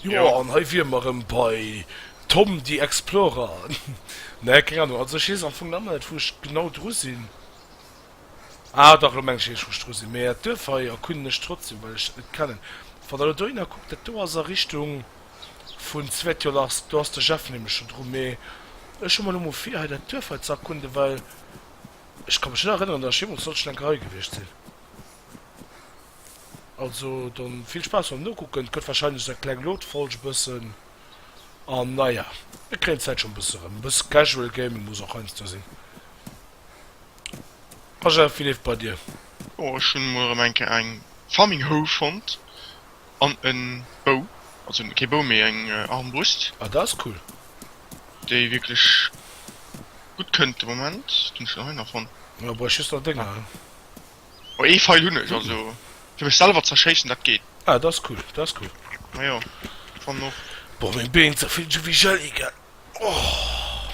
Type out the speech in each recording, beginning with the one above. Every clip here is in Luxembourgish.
Jo, an hei wier mer rëm bei Tom the Explorer. Nee, keng Ahnung, also ech weess am Fong nach net, wou ech genau dru sinn. Ah, dach, elo mengen ech eréischt, wou ech dru sinn. Mee d'Duerf hei erkunden ech trotzdem, well ech et kennen. Wann der elo dohinner kuckt, dat do ass a Richtung vun Svetiolars, do ass de Jeff nämlech scho dru. Mee ech hu mer elo mol vir, hei dat Duerf hei ze erkunden, well ech ka mech net erënneren, datt ech jeemools sollten enker hei gewiescht sinn. Also dann vill Spaass beim Nokucken, et gëtt wahrscheinlech nach eng kleng Load-Folg e bëssen an naja, mir kréien d'Zäit schonn e bësse rëm. E bësse Casual Gaming muss och heiansdo sinn. Roger, wéi leeft et bei dir? Jo, ech hunn emol erëm eng Kéier eng Farming Hoe fonnt an en Bou, also kee Bou mee eng Armbrust. Ah, dat ass cool. Déi wierklech gutt kënnt de Moment. Wat hunn ech dann hei nach fonnt? Jo, brauch just nach Dénger. Oh ee Feil hunn ech, also fir mech selwer z'erschéissen, dat geet. Ah dat ass cool, dat ass cool. Ma jo, fannen och. Boah meng Been ze vill Jewee Jelly gell ohh.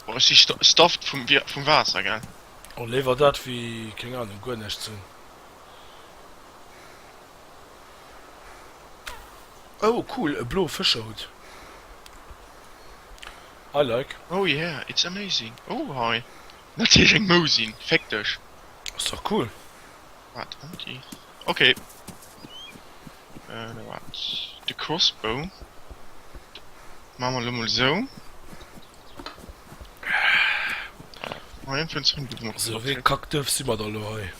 Boah ech si stuffed vum Waasser gell. Oh léiwer dat wéi keng Ahnung guer näischt ze hunn. Oh cool, e bloe Fëscherhutt. I like. Oh yeah, it's amazing. Oh hei. Natierlech eng Mousin, féck dech! Ass dach cool! Wat tranquille. Ok. Äh da waart. De Crossbow maache mer elo mol esou. Moien fir ons Rëm goufen och. Sou ee Kack duerf si mer da elo hei.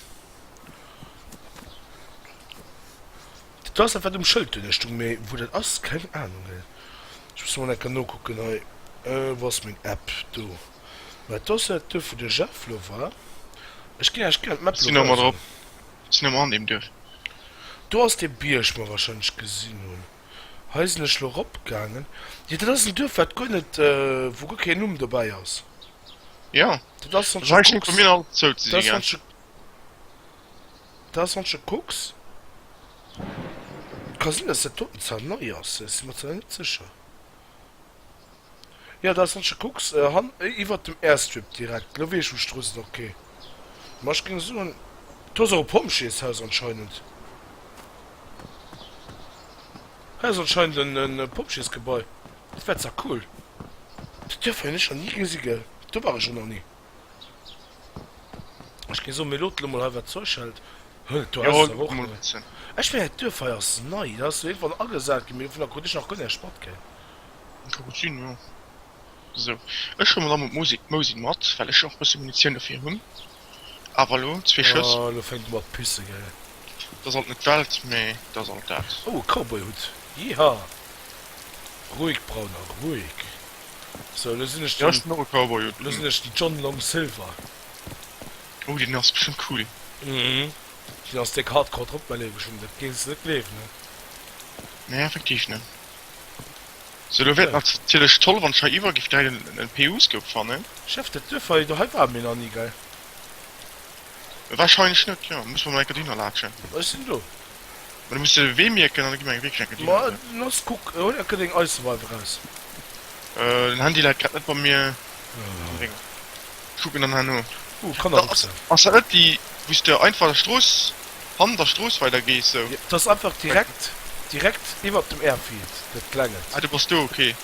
Dat ass dat wat um Schëld duerno stung, mee wou dat ass keng Anung. Ech muss mol enker nokucken hei. Wou ass meng App? Do. Mä d'Ossette duerf wou de Jeff lo war. Ech ginn Iech gären d'Map lo weisen. Ech sinn elo an deem Duerf. Do ass dee Bierg wou mer warscheinlech gesinn hunn. Hei sinn ech lo eropgaangen. Jo dat ass en Duerf wat guer net, wou guer keen Numm dobäi ass. Jo, dat ass wann s de kucks. Ka sinn dass dat doten zwar nei ass, ech sinn mer zwar net sécher. Jo dat wann ech kucks han iwwert dem Airstrip direkt, lo wees ech wou d'Strooss ass ok, ma ech géing soen do ass och e Pompjeeshaus anscheinend, hei ass anscheinend en e Pompjeesgebai, dat wär zwar cool, déi Duerf hun ech nach ni gesi gell, do war ech och nach ni, ech géing soen mir loot lo mol hei wat zeuch hält, huh do ass et awer och nei, ech mengen d'Duerf hei ass nei, dat ass lo iergendwann agesaat gin, mee dovunner krut ech nach guer näischt mat gell, Ech hu gutt sinn, jo. Sou, ech huelen mol am Mot Mousin mat, well ech jo och e bësse Munitioun dofir hunn. Awer elo zwee Schëss. Oh, elo fänkt e mat pissen, gell. Dat ass alt net d'Welt, mee dat ass alt dat. Oh, e Cowboy-Hutt. Jiha! Ruhig, Brauner, ruhig. Sou, elo sinn ech den. Jo, ech hunn och e Cowboy-Hutt. Elo sinn ech den John Long Silver. Oh, deen ass bestëmmt cool. Mhm. Deen ass déck hardcore drop, mäi Léiwe Jung, dat gees de net gleewen, ne? Nee, effektiv net. Sou lo wär et natierlech toll wann ech hei iwwer giff däiten an en PU-Scope fannen. Chef, dat duerf hei, do hei ware mir nach ni, gell? Wahrscheinlech net, jo, muss mer mol enker dohinner laatschen. Mä ech sinn do. Mä du muss de Wee mierken an da gi mer eng wierklech enker Mä dohinner. lass kuck, hol enker deng Eiseweiw eraus. Den Handy läit grad net bei mir am Drénger. Kuck mir dann hei no. Oh, Kannerbuchse. Ass dat net déi, wou s de einfach der Strooss, hannert der Strooss weider gees sou? Jo, dat ass einfach direkt, direkt iwwert dem Airfield, dat klengent. Ah, du bass do, ok.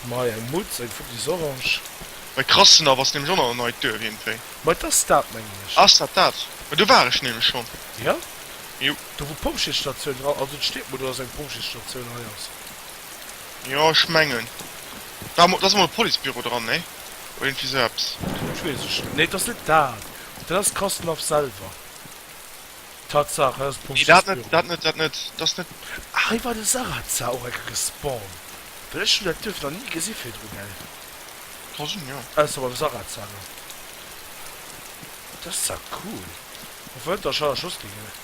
Mer hei eng Mutz, eng Futti Sorange. Bei Krassenhaff ass nämlech och nach en neit Duerf iergendwéi. Mei et ass dat, mengen ech. Ass dat dat? Ma do war ech nämlech schonn. Jo? Jo. Do wou d'Pompjeesstatioun dra, also et steet mer do, dass eng Pompjeesstatioun hei ass. Jo ech mengen da mo dass mol e Policebüro dran nee? Oder irgendwie sou eppes. Dat wees ech net, nee dass net dat, dat ass Kosnov selwer, Tatsache dat ass Nee dat net, Policebüro. dat net, dat net, dass net. Ah hei war de Sarazar och eng Kéier gespawnt, well ech hunn dat Duerf nach ni gesi virdru gell? Ka sinn jo. Ausser beim Sarazar elo, dat ass zwar cool, och wann et der Charge Hostel gëtt.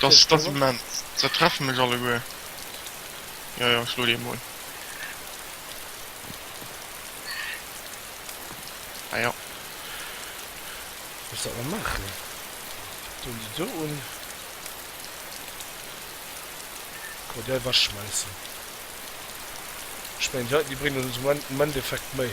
Dass dass immens. Se treffen mech alleguer. Jo jo, ech lueden emol. Ah jo. Muss dat mol machen. Doen déi do un. Kann mer déi ewech schmeissen. Ech mengen déi heiten déi bréngen ons am Endeffekt méi.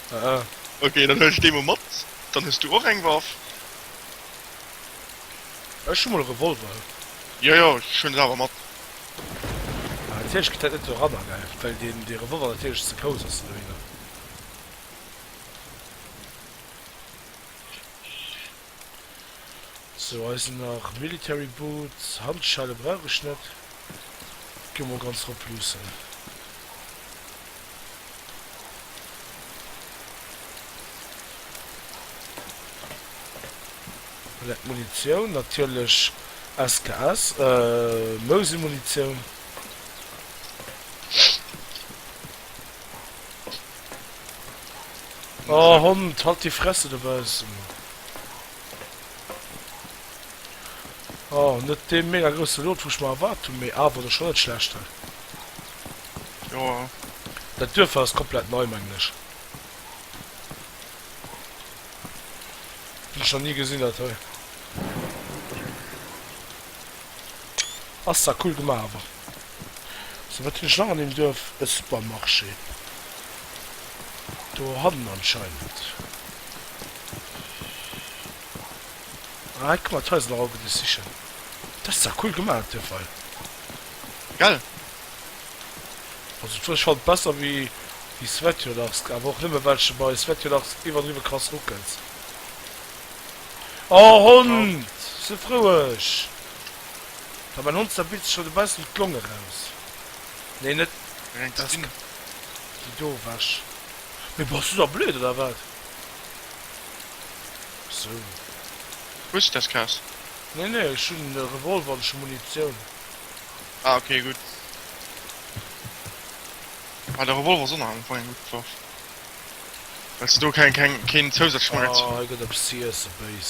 Ah. Okay, dann huel ech déi mol mat. Dann hues du och eng Waff. Ech hu mol e Revolver. Jo, jo, ech huelen se awer mat. Ah, natierlech gëtt dat net do eranageif, well deen dee Revolver natierlech ze grouss ass dohinner. Sou hei sinn nach Military Boots, Handschelle brauch ech net, gi mol ganz rop luussen. Lek Munitioun, natierlech SKS, Mosin Munitioun. Oh Hond, halt déi Fresse dobaussen! Oh, net dee mega grousse Lot, wou ech mer erwaart hunn, mee awer da schonn net schlecht, he? Joa. Dat Duerf hei ass komplett nei, mengen ech. Hunn ech nach ni gesinn, dat hei. Ass zwar cool gemaach, awer. So wat hunn ech nach an deem Duerf? E Supermarché dohannen anscheinend. Ah hei kommen d'Haiser nach oppen, déi ech sichen. Dat ass zwar cool gemaach op deem Fall. Gell? Also d'Wurscht fannen ech besser wéi déi Svetjodarsk, awer och nëmme well ech bei Svetjodarsk iwwerdriwwe krass ruckels. Oh Hond! Si froueg! Ma bei Nonster billt sech rem e bessen d'Long eraus, nee net déi do wech. Mee bass du da blöd oder wat? Sou. Hues du das Kaas? Nee nee ech hun e Revolver an ech hun Munitioun. Ah ok gudd. Ah de Revolver ass onerhalen fong eng gudd Waff wells de do keng keng keen zousätzlech Munitioun. Ah hei gëtt eppes z'iessen, béis.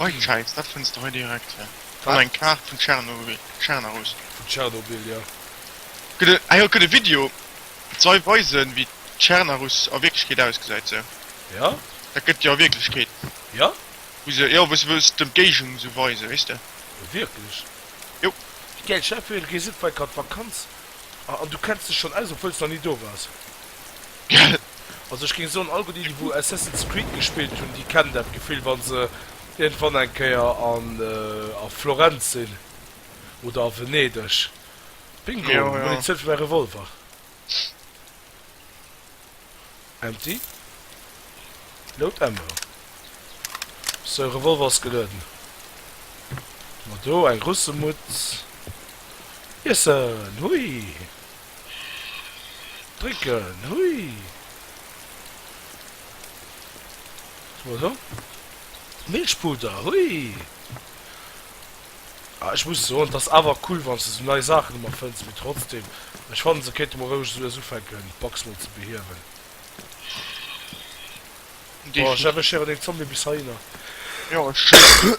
Reutscheid, dat fënns de hei direkt. Hei ass eng Kaart vun Tschernobyl, Tschernarus. Vun Tschernobyl, jo. Gëtt e, ah jo, et gëtt e Video, et soll weisen, wéi Tschernarus a Wierklechkeet ausgesäit, sou. Jo. Dat gëtt jo a Wierklechkeet. Jo? Wou se, jo, wou se wëlls d'Ëmgéigend esou weisen, weess de. Wierklech? Jo. Wéi gäil, stell dir vir, du gees iergendwei grad Vakanz a, an du kenns dech schonn aus, obwuel s de nach ni do waars. Also ech géing soen, all déi wou Assassin's Creed gespillt hunn, déi kennen dat Gefill wann se iergendwann eng Kéier an a Florenz sinn oder a Venedeg. Bingo, Munitioun fir mäi Revolver. Empty. Load ammo. Sou, Revolver ass gelueden. Hu mer do eng Russemutz. Iessen! Hui! Drécken, hui! Soe se. Milchpuder, hui! Ah, ech muss soen, 't ass awer cool, wann s de sou nei Saachen ëmmer fënns, mee trotzdem, ech fannen, se kéinte mer roueg soues ufänken, d'Box mol ze behiewen. Bon, Jeff, ech héieren een Zombie bis heihinner. Jo, ech.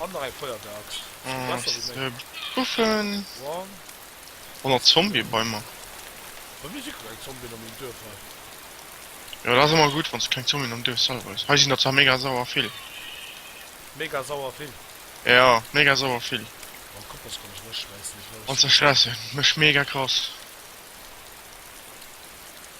An nach eng Feuerwerk. Puffen. An nach Zombie bei mer. Bei mir si keng Zombien am Duerf hei. Jo dat ass emmer gudd wanns keng Zombien am Duerf selwer is. Hei sin der zwar mega sauer vill. Mega sauer vill? Jo mega sauer vill. Oh kuck dats kann ech mech schräissen. An zerschräissen mech mega krass.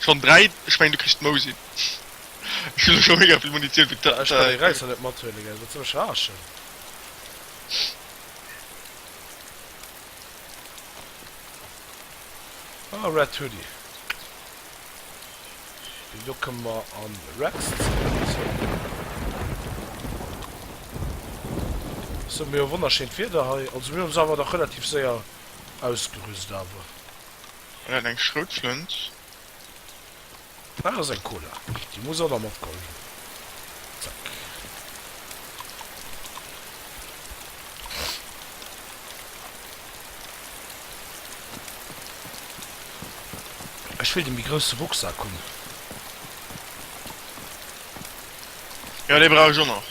Schon 3, ech mengen du kriss mou sinn. Ech hunn elo scho mega vill Munitioun fir d'. Ech kann dee Räisser net mathuelen, gell, wat soll ech raaschen? Ah, Red Hoodie. Deen do kënne mer an Red zerknipsen. Ech soe mir jo, wonnerschéint Wieder hei. Also mir hunn eis awer dach relativ séier ausgerüst awer. An hat eng Schroutflënt. Daat ass eng Cola, déi muss och nach mat goll gin. Zack. Ech will de méi grousse Rucksack hun. Jo, dee brauch ech och nach.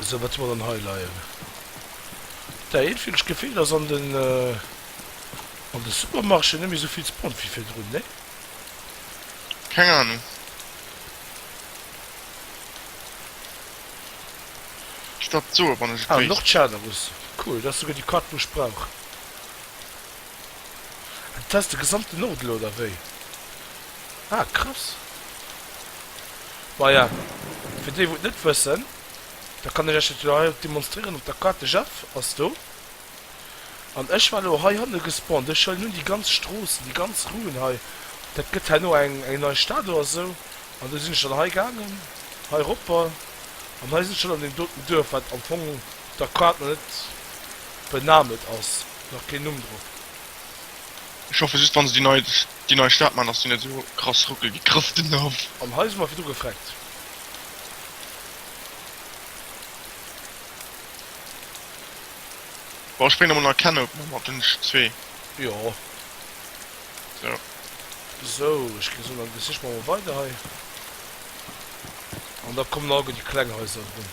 Esou, wat soll mer dann hei leien? Dat heet vill. Ech géif wéilt ass an den, an de Supermarché net méi esou vill Spont wéi virdrun, nee? Keng Ahnung. Stop d'soe wann ech et wéisst. Ah, Nordschannerus. Cool, dat ass souguer déi Kart, wou ech brauch. Ah dat ass de gesamten Nordelo oder wéi? Ah krass. Maja fir déi wou et net wëssen, da kann ech iech dat jo hei och demonstrieren op der Carte. De Jeff ass do an ech war elo hei hanne gespawnt. Ech huelen un déi ganz Stroossen, déi ganz Ruen hei, dat gëtt herno eng eng nei Stad oder esou, an du sinn ech dann hei gaangen hei eropper an hei sinn ech schonn an deem doten Duerf wat am Fong, Da quaat mer net benahm, et ass nach keen Numm drop. Ech hoffe just wann se déi nei Stad maan dass déi net esou krass ruckelt wéi Chrëftendorf. An hei si mer virdru gefreckt. Bon ech bréngen emol nach Ken open mat den zwee. Jo. So. Sou ech gin esou dann sichen mer emol weider hei. An da kommen alleguer déi kleng Haiser erun.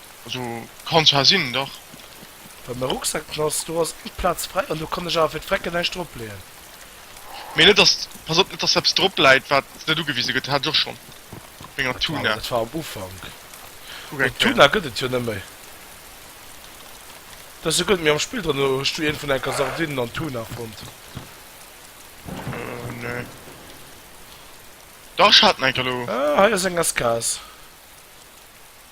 Also kann zwar sinn, dach. Bei mer Rucksack ass do ass eng Platz frei an do kann ech awer fir d'Frecken näischt drop leeën. Mee net dass, pass op net dass eppes drop läit wat net ugewise gëtt, hat ech och schonn op menger Tuna. Dat war am Ufank, mee Tuna gëtt et jo net méi. Dat ass jo gutt, mee am Spill dran hues du een vun enker Sardinen an Tuna fonnt? Äh nee. Dach ech hat en enker lo. Ah hei ass eng aus Gas.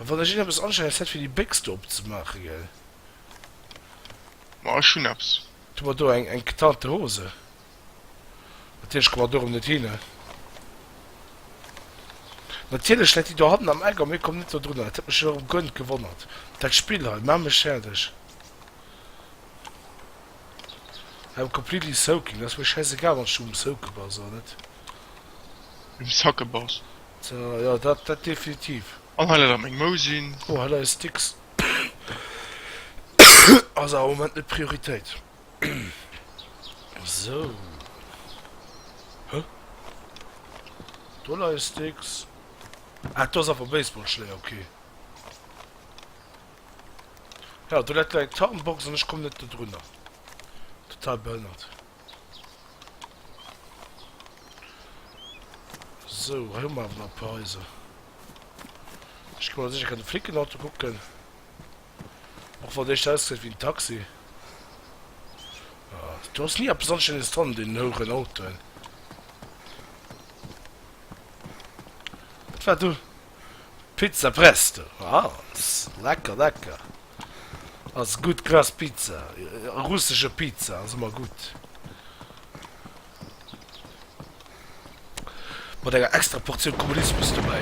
An wann ech een eppes anstellen ass dat fir déi Bécks do opzemaachen gell? Ma ech hunn eppes. Du mer do eng eng getante Hose. Natierlech komme mer dorëm net hin. Natierlech läit déi do hannen am Eck a mir kommen net dodrunner. Et huet mech erëm gönnt gewonnert. Dat Spill hei mat mech fäerdeg. I am completely soaking. Ass mir schäiss egal wann s du um Soake bass oder net. Um Sacke bass. Jo dat dat definitiv. An hei läit awer meng Mousin. Oh hei leie Sticks. Ass awer am Moment net Prioritéit. Sou. Huh? Do leie Sticks. Ah do ass awer Baseballschléier, ok. Ja do läit lei eng Tarnbox an ech komm net dodrunner. Total behënnert. So, hei hu mer awer nach e puer Haiser. Ech géif mol sécher gären de Flickenauto kucken. Och wann dee scho ausgesäit wéi en Taxi. Ah, do ass ni eppes Anstänneges dran an deenen houeren Autoen. Wat war do? Pizza Presto, ah, lecker, lecker. Ass gutt, grass Pizza, russesche Pizza ass ëmmer gutt. Mat enger extra Portioun Kommunismus dobäi.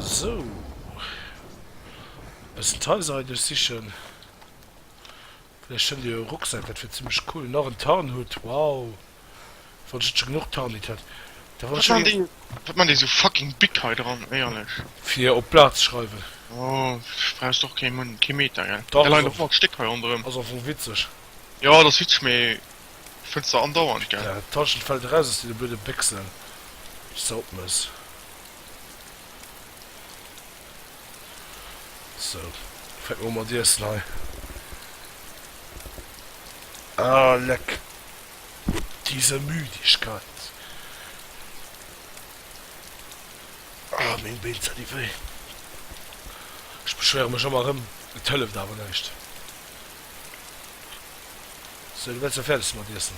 Sou. Bëssen Teiser hei duerchsichen. Vläicht fënnt dir e Rucksak, dat wier zimmlech cool. Nach en Tarnhutt, wow, wann ech net scho genuch Tarnhitt hätt. Da wann ech scho geng. Wat man déi sou fucking big hei dran, éierlech? Fir op d'Plaz ze schreiwen. Oh, brauchs de och kee Mun, kee Meter, gell? Dach, ass am. Stéck hei ronderëm. Ass am Fong witzeg. Jo, et ass witzeg, mee fënns de andauernd, gell? Dat Tallchen fält eraus aus deene blöde Béchsen, déi s de opmëss. So, fänke mer u mat iessen hei. Ah, leck! Diese Müdigkeit! Ah, meng Been, se di wéi! Ech beschwéiere mech ëmmer erëm, et hëlleft awer näischt. So, du wäerts elo fäerdeg si mat iessen?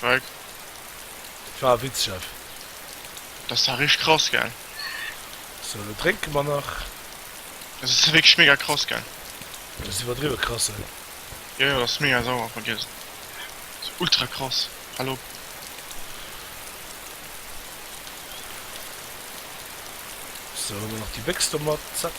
Wei? Et war e Witz, Chef. Dat ass awer richteg krass, gell? Sou, lo drénke mer nach. Dat ass wierklech mega krass, gell? Dat ass iwwerdriwwe krass, hein? Jo, jo, dat ass mega sauer, vergiess et. Dat ass ultra krass. Hal op. Sou, huele mer nach déi Béchs do mat. Zack.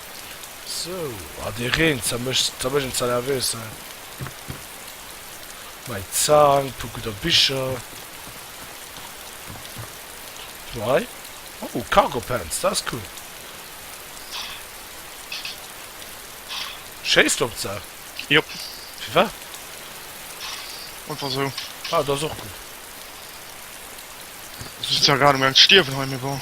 Sou, ah dee Reen ze mech ze mech en ze nervös he. Mei Zang, puer gudder Bicher. Guck mol hei, oh Cargo Pants, dat ass cool. Schéiss de op d'Saach? Jo. Firwat? Einfach sou. Ah, dat ass och gutt. Ech si zwar grad um gaang ze stierwen hei, mee bon.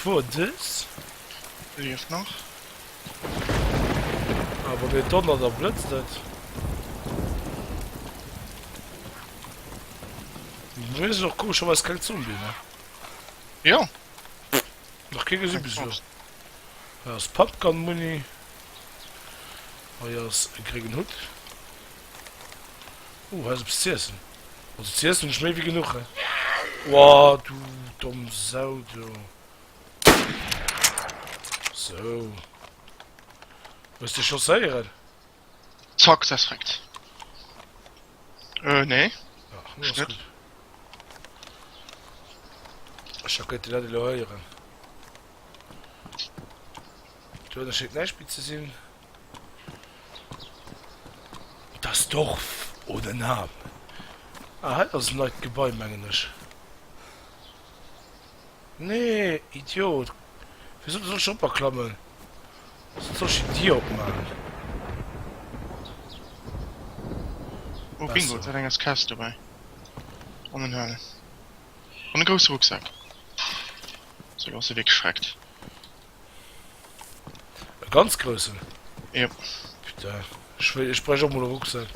Fuer dës wéi ech nach. Ah wann et donnert a blëtzt et. Wéi se och komescherweis keng Zombie ne? Jo. Nach kee gesi bis elo. Hei ass Pumpgun Muni. Hei ass e gréngen Hutt. Oh hei ass eppes z'iessen. Also CS hun ech méi wéi genuch. Woah du domm Sau do. So. Hues de chausséieren? Success rekt. Äh nee. Ach, no ass gutt. Ech ha kënnt dat elo héieren. Duerno schéngt näischt méi ze sinn. Das Dorf ohne Namen. Ah, hei ass en neit Gebai, mengen ech. Nee, Idiot! Wéi soll ech op a klammen? Soss soll ech déi Dier opmaachen. Oh bingo, dat eng ass Kess dobäi. An en Hël. An e grousse Rucksak. Sou, lo ass e wéi geschreckt. E ganz groussen? Jo. Putain, ech wéi, ech brech och mol e Rucksak.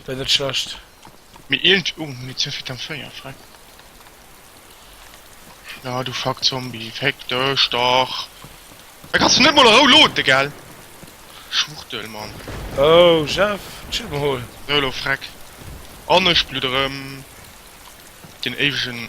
Wär net schlecht. Mee iergend, oh, Munitioun fir d'M 4, fräck. Na du fuck Zombie, féck dech dach! Da kanns du net mol a Rou loaden, gell? Schwuchtel, Mann. Oh, Jeff, chill mol. Sou, elo fräck. An ech bludderen den éiwegen.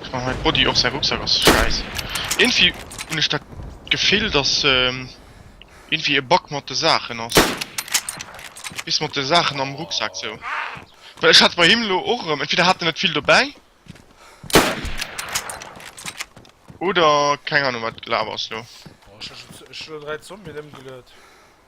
Ech man hei Body och säi Rucksack ass schäiss irgendwie hunn ech dat Gefill dass irgendwie e Bug mat de Saachen ass bis mat de Saachen am Rucksack sou well ech hat bei him lo och erëm entweder hat en net vill dobäi oder keng Ahnung wat gelaf ass lo. Ech hu lo 3 Zombien ëmgeluet.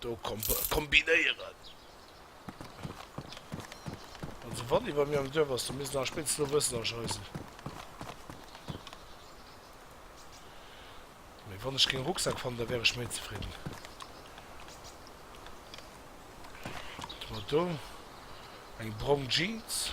Do kombinéieren. Also wann iwwer mir am Duerf ass, dann misst nach spéitstens lo wëssen an Scheissel. Mee wann ech keng Rucksack fannen, da wär ech méi zefridden. Wat mer do? Eng brong Jeans.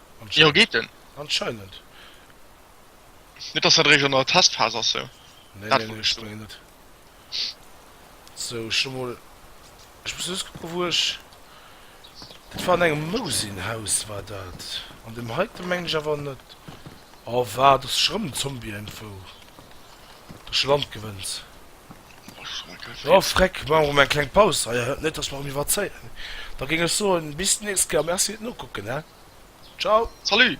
Jo geet en. Anscheinend. Net dass dat eréischt an der Testphas ass sou. Nee nee nee ech mengen net. Sou ech hu mol, ech muss just kucke wou ech, dat war an engem Mousin-Haus war dat, an deem heiten mengen ech awer net. Oh waart, ass scho rëm en Zombie-Info, do ass scho Landgewënns. Oh freck, maache mer mol eng kleng Paus hei, net dass mer erëm iwwerzéien. Da géing ech soen, bis d'nächst Kéier, Merci fir d'Nokucken, he! Ciao! Salut!